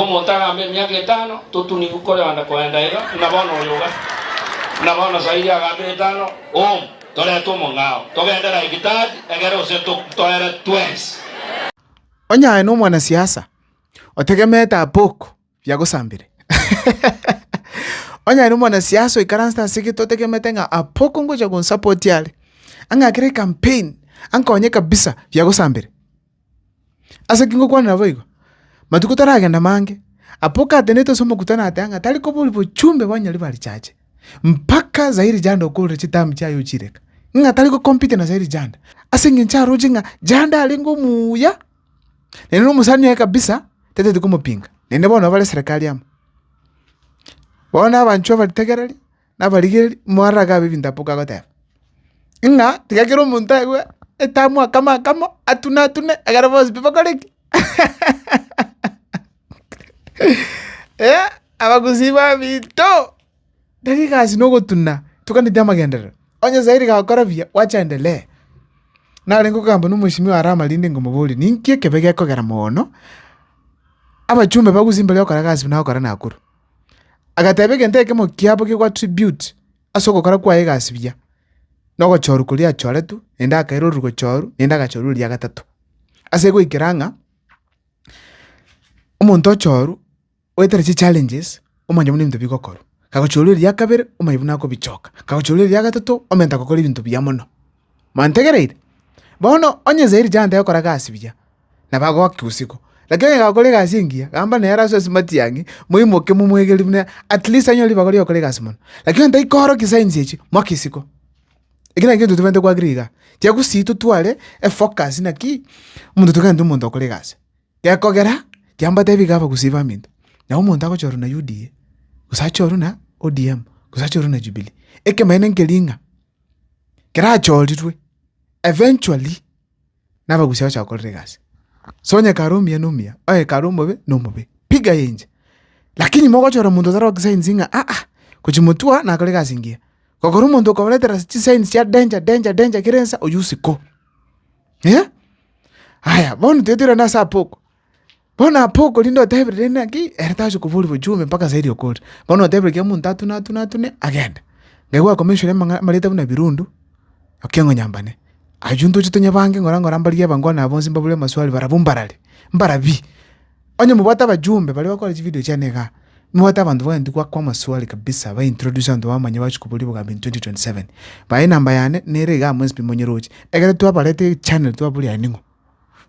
Omonto agambe emiaka etano totunigu korenda koenda iga, buna bono oyo ogasuka. Buna bono sairi agambe etano, Oom, torete omong'ao, togende Laegitadi, egere gose toere twensi. Onye aye nomwanasiasa, otegemeete ab'oko biagosambire. Onye aye nomwanasiasa oikaransete ase egete otegemete ng'a ab'oko ngocha gonsapoti are, ang'akere ecampaign, ankonye kabisa, biagosambire. Ase ki ngokwanera boigo? Matuko taragenda mange, apa okatenenete ase omokutano ateba ng'a tari kobori bochumbe bwa nyaribari ba richache, mpaka Zahiri Janda okorire chitambi chiaye ochireka, ng'a tari gocompete na Zahiri Janda, ase eng'encho aroche ng'a Janda arenge omuya, naende na omosani oye kabisa tatete komopinga, naende bono nabare serekari amo. Bono abanchwa abaritegereri. nabarigereri, moarage abe ebintaboka agoteba, ng'a tiga kera omonto aigwe etamu akame akamo, atune atune, ekero bonsi pi bakore ki? abagusii babito, tari egasi na ogotuna, toganeti amagenderero, onye Nyasae riga agokora buya, gwacha endelea. Narenge kogamba na omochimi oye are amarindi ngomoborie, ninki ekebe gekogera moono, abachumbe bagusie mbari okora egasi buna agokora nakuru? Agateba egento ekemo kiabo kegwa tribute ase ogokora kwaye egasi buya, na ogochorwa koria achoretwe, naende akaira oriri gochorwa, naende agachorwa eria gatato. Ase goikera ng'a, omonto ochorwa, oetera chichallenges, omanye buna ebinto bigokorwa. Kagochorwa eria kabere, omanye buna akobichoka, kagochorwa eria gatato, omanyete gokora ebinto buya mono. Mwantegereire? Bono onye inse ere tiantaeti gokora egasi buya, nabo agoaki bosiko. Lakini onye gakora egasi engiya, gamba nere ase esumatie ang'e, moimoke momwegereri buna at least anyore ribaga ri'okora egasi mono. Lakini onye tari koorokia signs echio, mwaka isiko. Ekio nakio intwe tobaete koagereri igaa. Tiga gosii totware efocus naki, omonto toigane omonto okora egasi. Gekogera, tiga mbatebi igaa abagusii baminto, nabo omonto agocha ororo na UDA, gose ache ororo na ODM, gose ache ororo na Jubilee. Ekemanyeto nkeria ng'a. kerachorirwe eventually nabagusia bagocha bakorera egasi. So onye hekalu omuya na omuya, o hekalu omobe na omobe, piga yenche. Lakini mogochora omonto otare gokisainsi ng'a aa, gochia motwe aa nakore egasi engiya. Gokora omonto okomoretera ase chisainsi chia danger danger danger kera ensa, oyio isiko. Aya bono tiga toirane ase abwo oko, Bono apa okorinde oteberire naki, ere tachia koboria bochumbe mpaka saidi okoria. Bono otebire kera omonto atune atune atune agende. Nabo akomenyorire amang'a amareta buna ebirundu, ekiong'onyambane. Aywo ntoche tonye bange ng'ora ng'ora mbarigie abankwano aba bonsi mbabure amaswali barabwo mbarare, mbarabie. Onye mobwate abajumbe baria bakora chividio chiane igaa, mobwate abanto bagenda goakwa amaswali kabisa ba introduce abanto bamanye bachia koboria obogambi in twenty twenty seven. Bae enamba yane nere igaa amo SP Monyerochi, ekero twabarete echannel twaboria aye ning'o.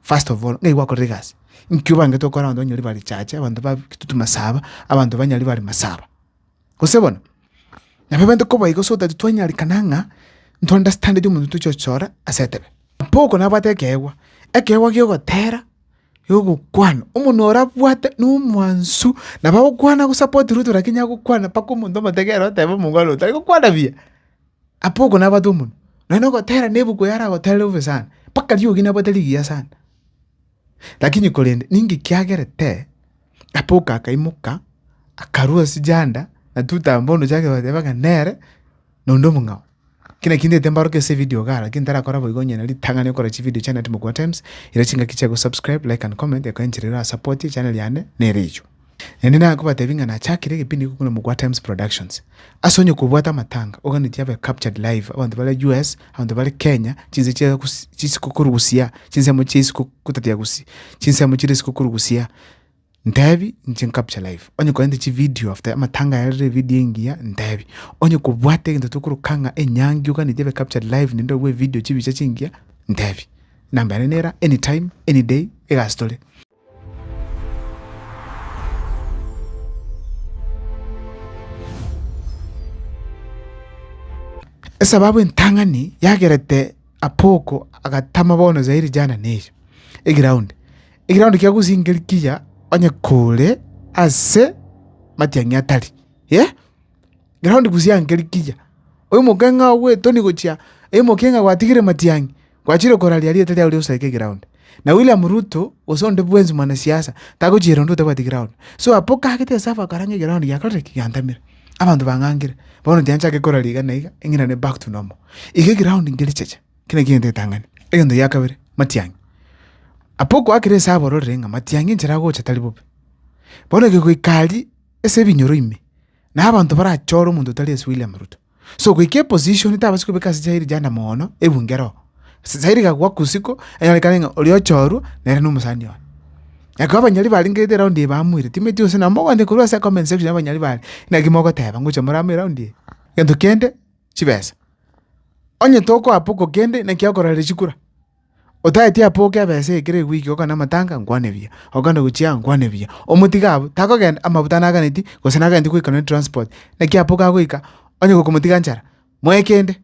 first of all ng'ai gwakorire egasi, nki obangete okore abanto banyari bare chache, abanto ba kitutu masaba, abanto banyari bare masaba. Gose bono, nabo ebento koba igo so that twanyarekana ng'a nto understandeti omonto tochi gochora ase etebe. Boko nabwate ekeegwa, ekeegwa kia ogotera, kia ogokwana, omonwe oria abwate na omwansu nabo agokwana agosupport ruto lakini agokwana mpaka omonto omotegerera otebe omongwana oyo tari gokwana buya. Apa oko nabate omonwa, nonya na ogotera na ebuku yare agoterere obe sana, mpaka riogi nabwate rigiya sana. Lakini korende ninki kiagerete? Apa oko akaimoka, akarua ase chianda, na totamba omochie akebateba ng'a nere na onde omong'ao. Ekio nakio ntaete mbaroke ase evidio igaa, lakini ntarakora boigo onye na ritang'ani okora chividio chiane at Mogoatimes, ere chingaki chia gosubscribe, like and comment, ekenchere era support echaneri yane nere erio. Naende nakobatebie ng'a nachakire egepindi iko korwa Mugwa Times Productions. Ase onye kobwate amatanga, oganeti abe captured live, abanto bare US, abanto bare Kenya, chinse chia gus- chisiko korugusia, chinsemo chia isiko kotatia gusi, chinsemo chire isiko korugusia, ntebi inche ncapture live. Onye korente chivideo after amatanga yarire evideo engiya, ntebi. Onye kobwate egento tokoroka ng'a enyangi oganeti abe captured live naende obwe evideo chibicha chingiya, ntebi. Enamba yane nera anytime, any day, egasi tore. Esababu entang'ani yagerete Apoko agatama bono zairi jana neyio egiraundi, egiraundi kia gosingeria kiya onye kore ase matiang'i atari. Ekero ndi bosio anche rikiya, oimoke ng'a ogwetoni gochia, oimoke ng'a gwatigire Matiang'i, gwachire koraria erieta riao riosi aike ground. Na William Ruto, gose onde bwensi mwanasiasa, tagochiera onde otabwati ground. So apa okagete ase abakora ng'a eground giakorire ki? Giantamire. Abanto bang'angire, bono tinyanchake koraria iga na iga, eng'inane back to normal. Iga eground nge richeche, eki nakio egento getang'ani. Egento gia kabere, Matiang'i. Apa okoakire ase abororire ng'a Matiang'i enchera agocha tari bobe. Bono ekegoika aria. ase ebinyoro ime, na abanto barachore omonto otari ase William Ruto. So goika eposition tabasi kobeka ase chire chianda moono ebunge roo. Chire egakwa kusiko, enyarikane ng'a oria ochorwa nere na omosani one. Ekero abanyori barengerete eround eye bamoire, timanyeti gose nabo mogoancha korwa ase comment section ya abanyori bare, naki mogoteba ngocha more amo eround eye? Egento kende chibesa. Onye tokoa poko kende naki okororera chikura. Otagete apoke ebesa eye ekero egwiki ogokana amatanga, nkwane buya, ogokana gochia aa, nkwane buya. Omotiga abwo, takogenda amabuta naganeti, gose nagachete goika nonye transport, naki apoka agoika, onye gokomotiga nchara, moe kende.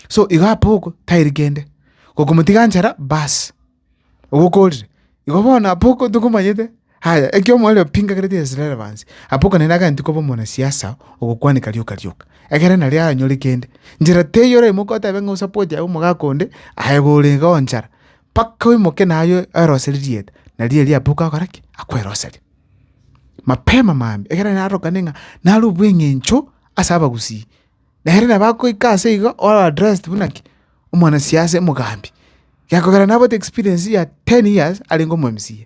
So igo apoka tairi kende, gokomotiga nchara baas, ogokorire. Igo bono apoka tokomanyete. Aye, ekiagera omorero pingakereti Abaisraeli banse, abokanire agati koba omonasiasa ogokwanika rioka rioka, egere nario aranyore kende. Nchera teiyo oraimoke otebe ng'a osapoti aye omogaka onde, aye iga orenge oonchara, mpaka oimoke naye oeroserie rieta, nario erio aboke akore ki? Akweroserie. Mapema mambia, egere narorokane ng'a nare obweng'encho ase abagusii. Nere nabo agoika ase igo ore addressed buna ki? Omwanasiasa, omogambi. Gekogera nabote experience ya ten years arenge omo MCA.